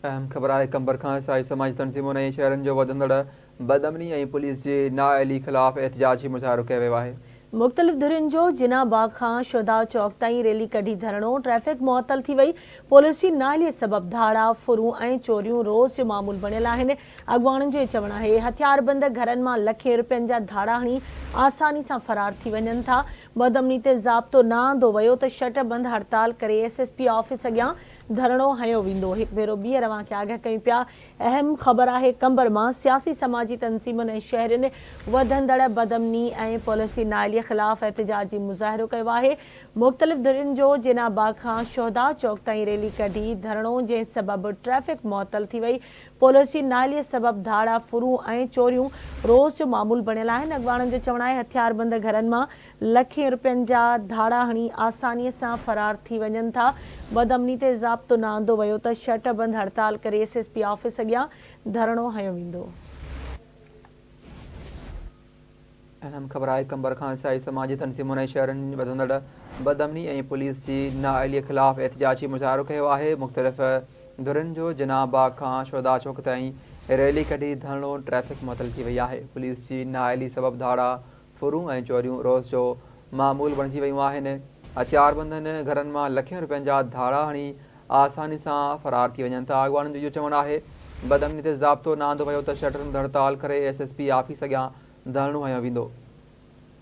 اهم خبر آهي قمبر کان عيسائي سماجي تنظيمن ۽ شهرين جو وڌندڙ بدامني ۽ پوليس جي نااهلي خلاف احتجاجي مظاهرو ڪيو ويو آهي. مختلف ڌرين جو جناح باغ کان شهداء چوڪ تائين ريلي ڪڍي ڌرڻو، ٽريفڪ معطل ٿي وئي، پوليس جي نااهلي سبب ڌاڙا، ڦرون ۽ چوريون روز جو معمول بڻيل آهن، اڳواڻن جو چوڻ آهي هٿياربند گهرن مان لکين روپين جا ڌاڙا هڻي آساني سان فرار ٿي وڃن ٿا، بدامني تي ضابطو نه آندو ويو ته شٽر بند هڙتال ڪري ايس ايس پي آفيس اڳيان ڌرڻو هنيو ويندو. هڪ ڀيرو ٻيهر اوهان کي آگهه ڪيون پيا. اهم خبر آهي قمبر مان سياسي سماجي تنظيمن ۽ شهرين وڌندڙ بدامني ۽ پاليسي نااهلي خلاف احتجاجي مظاهرو ڪيو آهي. مختلف ڌرين جو جناح باغ کان شهدا چوڪ تائين ريلي ڪڍي ڌرڻو جنهن سبب ٽريفڪ معطل ٿي وئي. پاليسي نااهلي سبب ڌاڙا ڦرون ۽ چوريون روز جو معمول بڻيل آهن. اڳواڻن جو چوڻ آهي هٿياربند گهرن مان لکين رپين جا ڌاڙا هڻي آساني سان فرار ٿي وڃن ٿا، بدامني تي ضابطو نه آندو ويو ته شٽ بند هڙتال ڪري ايس ايس پي آفيس اڳيان ڌرڻو هنيو ويندو. اهم خبر آهي قمبر کان عيسائي سماجي تنظيمن ۽ شهرين وڌندڙ بدامني ۽ پوليس جي نااهلي خلاف احتجاجي مظاهرو ڪيو آهي مختلف ڌرين جو جناح باغ کان شهدا چوڪ تائين ريلي ڪڍي ڌرڻو ٽريفڪ معطل ٿي وئي آهي پوليس جي نااهلي سبب ڌاڙا ڦرون ۽ چوريون روز جو معمول بڻجي ويون آهن، هٿياربندن گهرن مان لکين روپين جا ڌاڙا هڻي آساني سان فرار ٿي وڃن ٿا، اڳواڻن جو اهو چوڻ آهي، بدامني تي ضابطو نه آندو ويو ته شٽرن تي هڙتال ڪري ايس ايس پي آفيس اڳيان ڌرڻو هنيو ويندو.